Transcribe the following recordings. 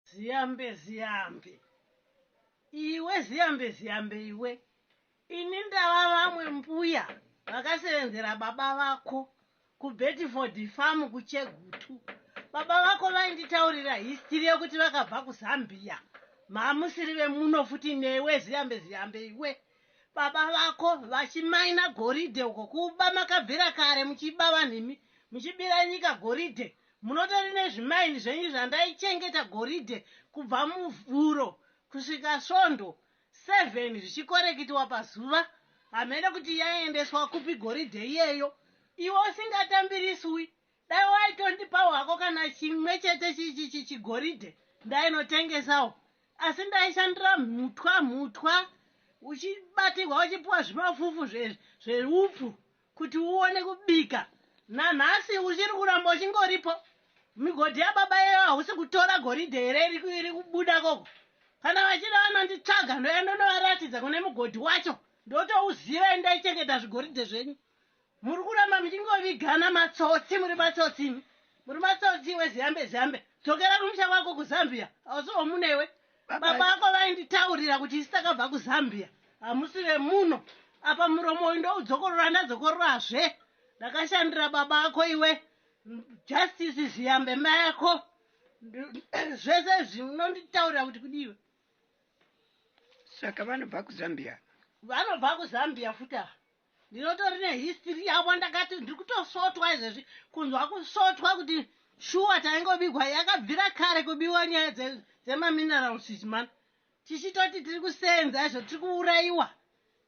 Ziyambe ziyambe iwe ziyambe ziyambe iwe ini ndava vamwe mbuya vakasevenzera baba vako kubedford farm kuchegutu baba vako vainditaurira histiri yekuti vakabva kuzambia mamusiri vemuno futi newe ziyambe ziyambe iwe baba vako vachimaina goridhe uko kuba makabvira kare muchiba vanhu imi muchibira nyika goridhe Munotori nezvimaini zvenyu zvandaichengeta goridhe kubva Muvhuro kusvika Svondo, seven zvichikorekitiwa pazuva. Hameno kuti yaiendeswa kupi goridhe iyeyo. Iwe usingatambiriswi, dai waitondipawo hako kana chimwe chete chigoridhe ndainotengesawo. Asi ndaishandira mhutwa mhutwa uchibatirwa uchipiwa zvimafufu zveupfu. Kuti uone kubika nanhasi uchiri kuramba uchingoripo. Migodhi yababa iyoyo hausi kutora goridhe here iri kubuda koko. Kana vachida vanonditsvaga ndoya ndonovaratidza kune mugodhi wacho ndotouziva endai chengeta zvigoridhe zvenyu. Muri kuramba muchingovigana matsotsi muri matsotsi imi. Muri matsotsi iwe ziyambe ziyambe. Dzokera kumusha kwako kuZambia hausi wamune iwe. Baba vako vainditaurira kuti isi takabva kuZambia hamusi vemuno. Apa muromo uyu ndoudzokorora ndazokororasve. Ndakashandira baba ako iwe. Justice Ziyambe mai ako. Zvese zvinonditaurira kuti kudiwe. Saka vanobva kuZambia. Vanobva kuZambia futi ava. ndinotori nehistory yavo ndakati ndiri kutosvotwa izvezvi kunzwa kusvotwa kuti shuwa taingobigwa yakabvira kare kubiwa nyaya dzemaminerals idzi mani tichitoti tiri kuseenza izvo tiri kuurayiwa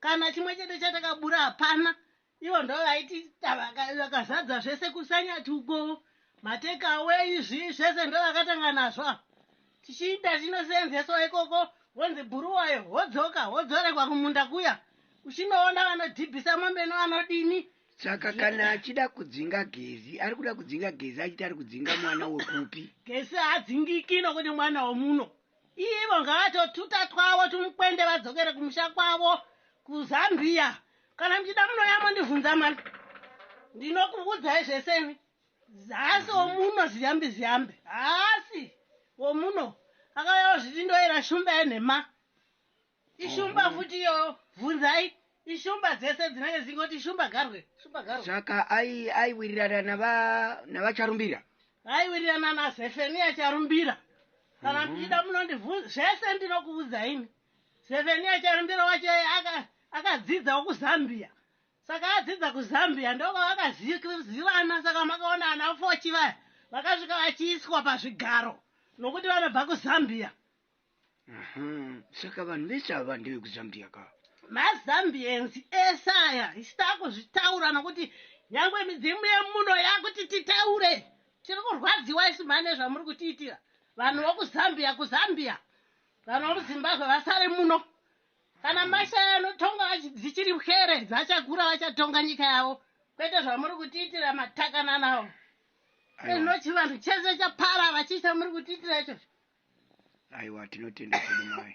kana chimwe chete chatakabura hapana ivo ndo vaiti vakazadza zvese kusanyati uko mateka away izvi zvese ndo vakatanga nazvo Tichiita zvinoseenzeswa ikoko wonzi Bhuruwayo wodzoka wodzoregwa kumunda kuya uchinoona vanodhibhisa mombe nevanodini. Saka kana achida kudzinga Gezi ari kuda kudzinga Gezi achiti ari kudzinga mwana wekupi? Gesi haadzingiki nokuti mwana womuno. Ivo ngavatotuta twavo tumukwende vadzokere kumusha kwavo kuZambia. Kana muchida munouya mondivhunza mani. Ndinokuvudzai zvese ini. Haasi womuno zviyambi zviyambi. Haasi womuno. Akauya wazviti ndoera shumba yenhema. Ishumba mhm. futi iyo vhunzai ishumba dzese dzinenge dzingoti shumba garwe shumba garwe. Saka ai aiwirirana nava navacharumbira. Aiwirirana naZefenia charumbira. Kana mhm. muchida munondivhunza zvese ndinokuudza ini. Zefenia charumbira wacho akadzidzawo kuZambia. Saka adzidza kuZambia ndokwavakazivana saka makaona ana Fochi vaya vakasvika vachiiswa pazvigaro nokuti vanobva kuZambia. Aha, saka vanhu vese ava ndevekuZambia ka? MaZambians ese aya isu takuzvitaura nokuti nyangwe midzimu yemuno yakuti titaure. Tiri kurwadziwa isu mhani nezvamuri kutiitira. Vanhu vokuZambia kuZambia. Vanhu vomuZimbabwe vasare muno. Kana mashaya anotonga achi- dzichiri pwere vachakura vachatonga nyika yavo kwete zvamuri kutiitira matakananawo Aiwa, ezvino chivanhu chese chaparara chii chamuri kutiitira ichocho aiwa tinotenda zvedu mai.